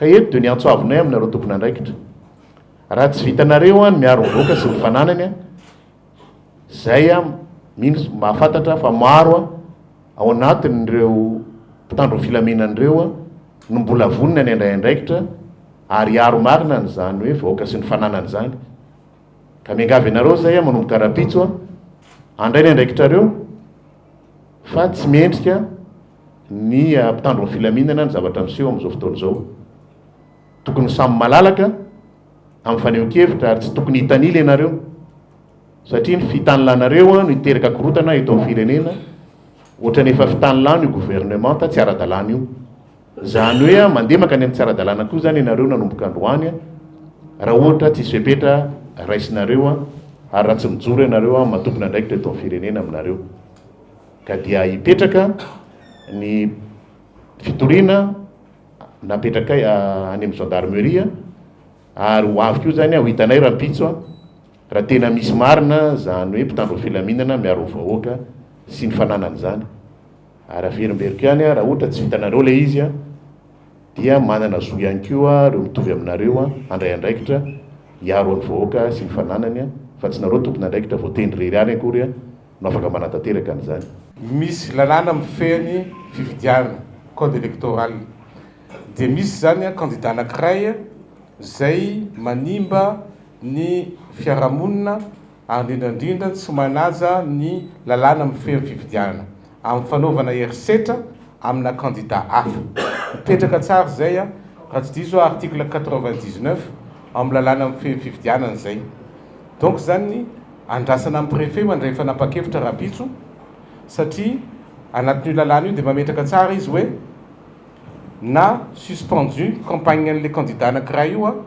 Ka eto dia ny antso avinay aminareo tompon'andraikitra, raha tsy vitanareo ny miaro ny vahoaka sy ny fananany, izay mino sy mahafantatra fa maro ao anatin'ireo mpitandro ny filaminana ireo no mbola vonona ny handray andraikitra ary hiaro marina an'izany hoe vahoaka sy ny fananany izany. Ka miangavy anareo izay manomboka rahampitso handray ny andraikitrareo fa tsy mendrika ny mpitandro ny filaminana ny zavatra miseho amin'izao fotoana izao. Tokony samy malalaka amin'ny fanehoan-kevitra ary tsy tokony hitanila ianareo satria ny fitanlanareo no hiteraka korotana eto amin'ny firenena ohatrany efa fitanlano io gouvernementa tsy ara-dalàna io. Izany hoe mandeha mankany amin'ny tsy ara-dalàna koa izany ianareo nanomboka androany raha ohatra tsisy fepetra raisinareo ary raha tsy mijoro ianareo amin'ny maha tompon'andraikitra eto amin'ny firenena aminareo. ka dia hipetraka ny fitoriana napetrakay any amin'ny gendarmerie ary ho avy koa izany aho hitanay rahampitso raha tena misy marina izany hoe mpitandro filaminana miaro vahoaka sy ny fananany izany ary averimberiko ihany aho raha ohatra tsy vitanareo ilay izy a dia manana zo ihany koa ireo mitovy aminareo a handray andraikitra hiaro an'ny vahoaka sy ny fananany a fa tsy nareo tompon'andraikitra voatendry irery ihany akory a no afaka manatanteraka an'izany. Misy lalàna mifehy ny fifidianana, code électoral, dia misy izany kandida anankiray izay manimba ny fiarahamonina ary indrindra indrindra tsy manaja ny lalàna mifehy ny fifidianana amin'ny fanaovana herisetra amina kandida hafa. Mipetraka tsara izay raha tsy diso aho article quatre-vingt-dix-neuf ao amin'ny lalàna mifehy ny fifidianana izay. Donc izany. Andrasana ny Préfet mandray fanapan-kevitra rahampitso satria anatin'io lalàna io dia mametraka tsara izy hoe na suspendu ny campagne an'ilay candidat anankiray io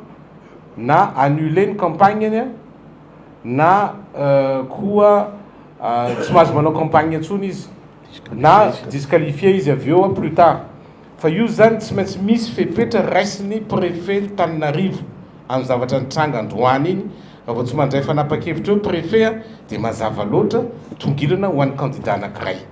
na annulé ny campagne-ny na koa tsy mahazo manao campagne intsony izy na disqualifié izy avy eo plus tard. Fa io izany tsy maintsy misy fepetra raisin'ny prefen'Antananarivo amin'ny zavatra nitranga androany iny, raha vao tsy mandray fanapa-kevitra eo prefet dia mazava loatra, tongilana ho an'ny candidat anankiray.